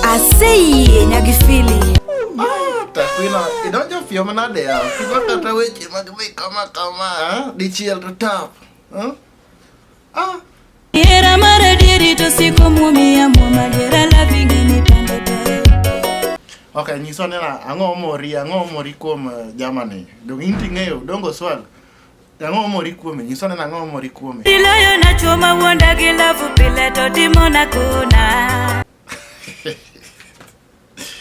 Aseye nyagifili. Ah, takwina idonjo fio manade ya kigo kata weche mag dhi kama kama ah, dichiel to tap ah. ah. Era mara diri to siko mumi ya muma dira la vigini pande pande. Okay, nyiso nena ang'o mori ang'o mori kuom uh, Germany. Dong inti ng'eyo dongo swag. Ang'o mori kuome? Nyisa nena ang'o mori kuome? Iloyo na chuo ma wuonda gi lavu pile to timo na kuna.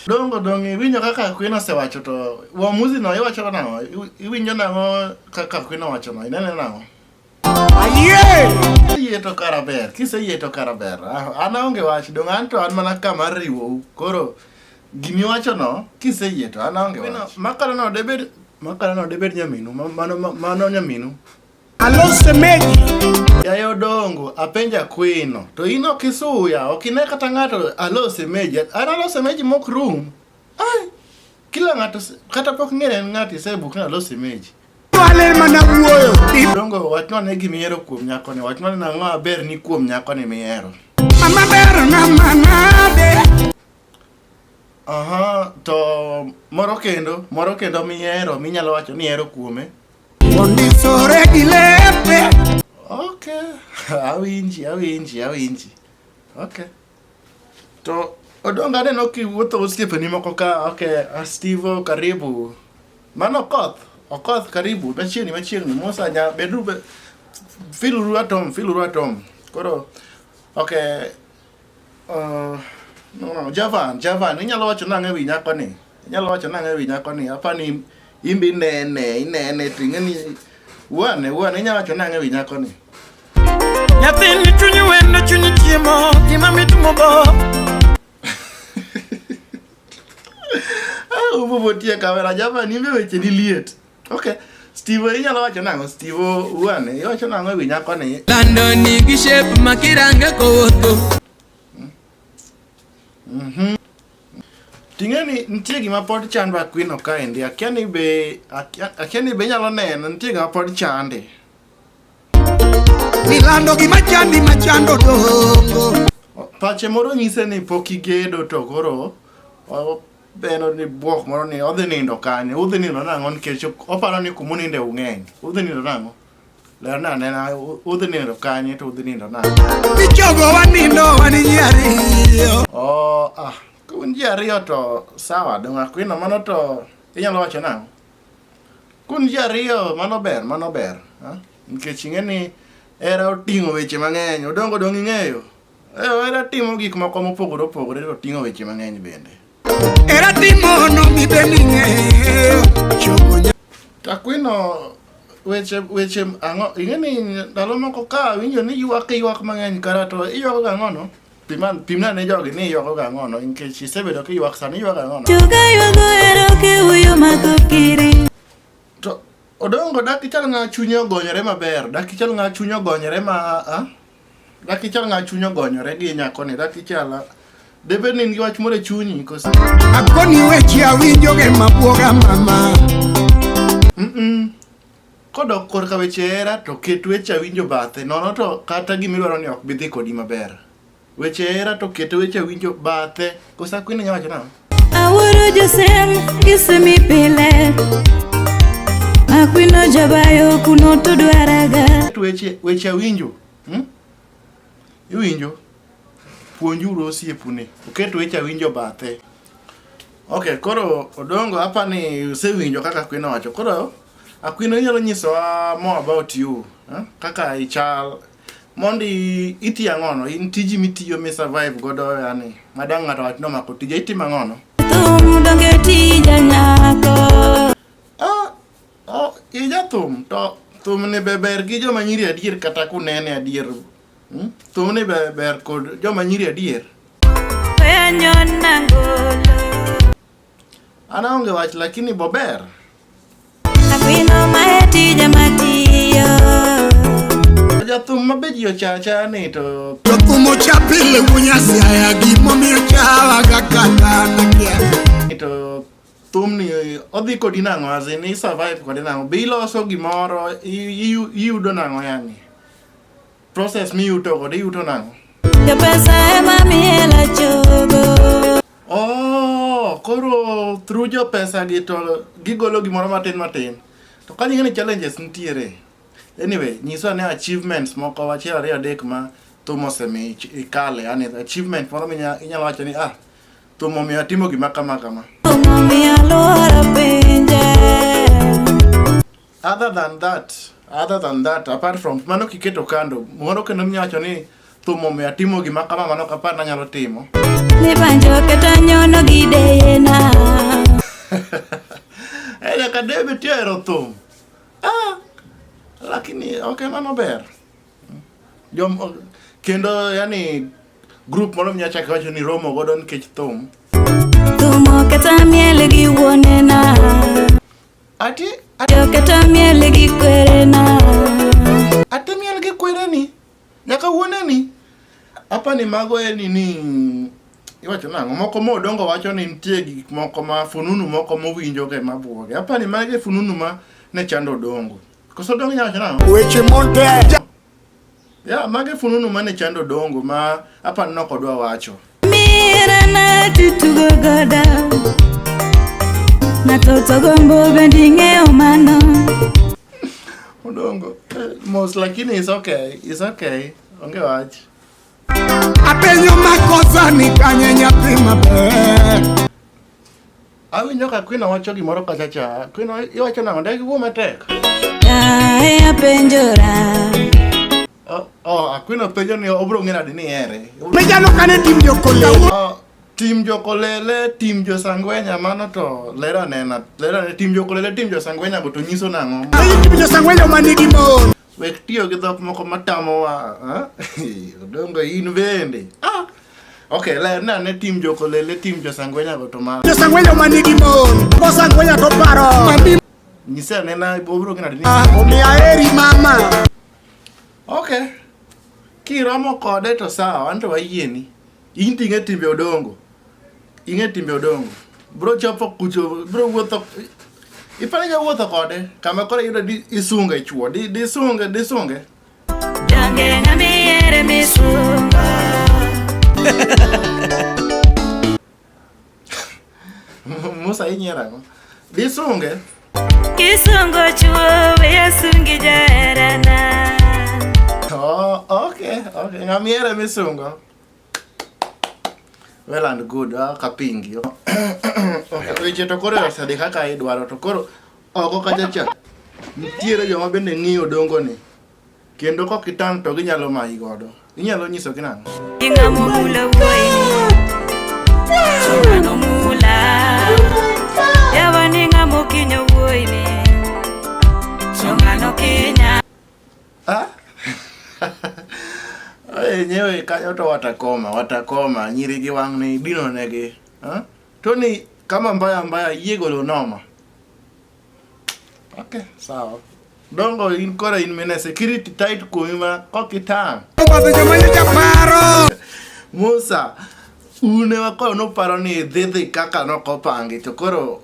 Dongo dongo iwinjo kaka Queen osewacho to uamuzi no iwacho nang'o? Iwinjo nang'o kaka Queen owacho no? Inene nang'o? Ayie! Ayie to kara ber. Kiseyie to kara ber. Ah, an aonge wach. Dongo an to an mana kama riwou. Koro Gima iwachono kiseyie to an aonge wach. Makalono debed makalono debed nyaminu mano mano nyaminu. Alo semeji. Yaye odongo apenja kwino to in ok isuya ok ine kata ng'ato alo semeji an alo semeji mok rum. Ai kila ng'ato kata pok ng'ere en ng'ato isebuk ni alo semeji. Wale mana wuoyo. Odongo wachnwa ne gima ihero kuom nyakoni wachnwa ni nang'o maber ni kuom nyakoni mihero. Mama ber na manade. Aha, to moro kendo, moro kendo mihero, minyalo wacho ni hero kuome. Ondisore gi lepe. Okay, awinji, awinji, awinji. Okay. To odonga neno kiwuotho osiepeni moko ka, okay, Astivo karibu. Mano koth, okoth karibu, machiegni machiegni, Musa nya bedru be filuru atom, filuru atom. Koro okay, Uh, no, no, Javan, Javan, inyalo wacho nang'o ewi nyako ni? Inyalo wacho nang'o ewi nyako ni? Apa ni imbe inene, inene, ting'e ni wane, wane, inyalo wacho nang'o ewi nyako ni? Nyathini chunyi wendo chunyi chiemo gima mit mobo Ah, ubo botie kamera, Javan, imbe weche ni liet. Okay. Steve inyalo wacho nang'o? Steve uane, iwacho nang'o ewi nyako ni? Lando ni gi shape ma kirange kowuotho. Mhm. Ting'e ni nitie gima pod chandwa Queen Okaindi. Akia ni be akia akia ni be inyalo neno nitie gima pod chande. Milando gi machandi machando dongo. Pache moro nyise ni pok igedo to koro o- Be en ni bwok moro ni odhi nindo kanye? Udhi nindo nang'o nikech oparo ni kuma uninde ung'eny. Udhi nindo nang'o? Ler na nena udhi nindo kanye to udhi nindo nang'o? Michogo wanindo wani ji ariyo. Oh, ah, ka un ji ariyo to sawa, dong' akwino mano to inyalo wacho nang'o? Kun ji ariyo mano ber, mano ber. ah. Nikech ing'e ni hera oting'o weche mang'eny, odongo dong' ing'eyo. Era timo gik moko mopogore opogore to ting'o weche mang'eny bende. Era timo no mi bening'e chokonya. Takwino weche weche ang'o ing'e ni ndalo moko ka winjo ni ywak ywak mang'eny kara to iywago gang'o no? Piman pimna ne jogi ni iywago gang'o no nikech isebedo ka ywak sani ywak gang'o no? Juga ywago ero ke uyo mako kiri. To odongo dakichal ng'a chunye ogonyore maber dakichal ng'a chunye ogonyore ma a Rakichal ng'a chuny ogonyore gi nyakoni Rakichal debed ni in gi wach moro e chunyi koso Akoni weche awinjo ge mabwoga mama. Mm-mm. kodok korka weche hera to ket weche awinjo bathe nono to kata gima idwaro ni ok bi dhi kodi maber weche hera to ket weche awinjo bathe kosa kwini nya wacho nang'o Awuoro Josem isemi pile Akwino jabayo kuno to dwaraga Weche weche awinjo hmm? Iwinjo puonjuru osiepune oket weche awinjo bathe Ok, koro Odongo hapa ni usewinjo kaka Akwino wacho koro Akwino inyalo nyisowa more about you eh? kaka ichal Mondi iti ang'ono, in tiji mitiyo mi survive godo yani, madang' ng'ato wach nomako tija, itimo ang'ono? Thum donge tija nyako. Ah, oh, ija thum, to thum ni be ber gi joma nyiri adier kata kunene adier. Hmm? Thum ni be ber kod joma nyiri adier. Penyo nangolo. An aonge wach lakini bober. Akwino mae tija matiyo. Jathum ma be ji ochacha ni to Jothum ocha pile wunyasi aya gimomiyo chawaga kata nakia. ni to thum ni odhi kodi nang'o azi ni survive kode nang'o be iloso gimoro i- i- iyudo nang'o yani Process miyuto godo iyuto nang'o? Jopesa ema miela chogo. Oh, koro through jopesa gi to gigolo gimoro matin matin. To ka ni challenges nitiere. Anyway, nyiswa ne achievements moko wachiel ariyo adek ma thum osemi ikale, yani achievement moro minyalo wacho ni ah, thum omiyo atimo gima kama kama. Omiyo alwora pinje. Other than that, other than that, apart from mano kiketo kando, moro kendo mnyacho ni thum omiyo atimo gima kama mano ok apar nanyalo timo. Ni banjo kata nyono gideyena. Eh, nyaka debe ti ohero thum. Ah, lakini ok mano ber. Jom, kendo yani group moro mnyacho ake wacho ni romo godo nikech thum. Thumo kata miel gi wuonena. Ati ati Joketa miel gi kwerena. ati miel gi kwereni nyaka wuoneni. Apa ni mago en nini iwacho nang'o moko ma odongo wacho ni nitie gik moko ma fununu moko mowinjoge mabwoge apa ni mage fununu ma ne chando odongo koso odongo inyalo wacho nang'o Weche montek. Ya, mage fununu mane chando dongo ma apani nok odwa wacho. Mira na tutugo goda Na toto gombo bendi ng'eyo mano Odongo. eh, Mos lakini is okay. Is okay. Onge wach. Apenyo makosa ni kanye nyathi maber Awinjo ka Queen wacho gimoro kacha cha. Queen iwacho nang'o? Dagi wuo matek. Kae apenjora. Oh, oh, Queen openjo ni obro ng'e nadi ni here. Mejano kane tim jokolele. Oh, tim jokolele, tim josangwenya mano to lera nena. Lera ne tim jokolele, tim josangwenya go to nyiso nang'o? Tim josangwenya manigi mon. Wek tiyo gi dhok moko matamowa. Odongo in bende. Ah! Ok, ler na ne tim jokolele, tim josangwenya go to mar. Josangwenya ma nigi mon, josangwenya to paro. Nyise ane na obiro gina ni. Ah, omiya eri mama. Ok. Kiromo kode to sawa, anto wayieni. In to ing'e timbe odongo. Ing'e timbe odongo. Bro chopo kucho, bro wuotho. Ipani ja wuotho kode, kama kore yudo di isunga ichuo, di di sunga, di sunga. Jange ngami yere misunga. Musa inyera ko. Di sunga. Kisungo chuo, we asungi jarana. Oh, okay, okay. Ngami yere misunga. well and good ah, kapingi weche to koro osedhi kaka idwaro to koro oko kachacha nitiere joma bende ng'iyo dongo ni kendo kok itang' to ginyalo mayi godo inyalo nyisogi nang'o Ingamukula uwe Chungano mula Yawa ningamukinyo uwe ni Chungano kinya Ah? enyewe kanyo to watakoma watakoma nyiri gi wang' ni dino negi ah? to ni kama mbaya mbaya yie golo noma okay sawa dongo in kora in mine security tight kuomi ma kok itang' musa une wakoyo noparo ni dhidhi kaka nokopangi to koro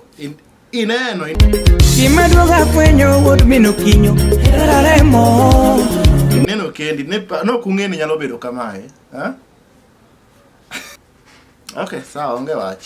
Ineno. Gima duong' afwenyo wuod min okinyo hera remo. Ineno kendi ne pa- nok ung'e ni nyalo bedo kamae. Ha? Okay, sawa onge wach.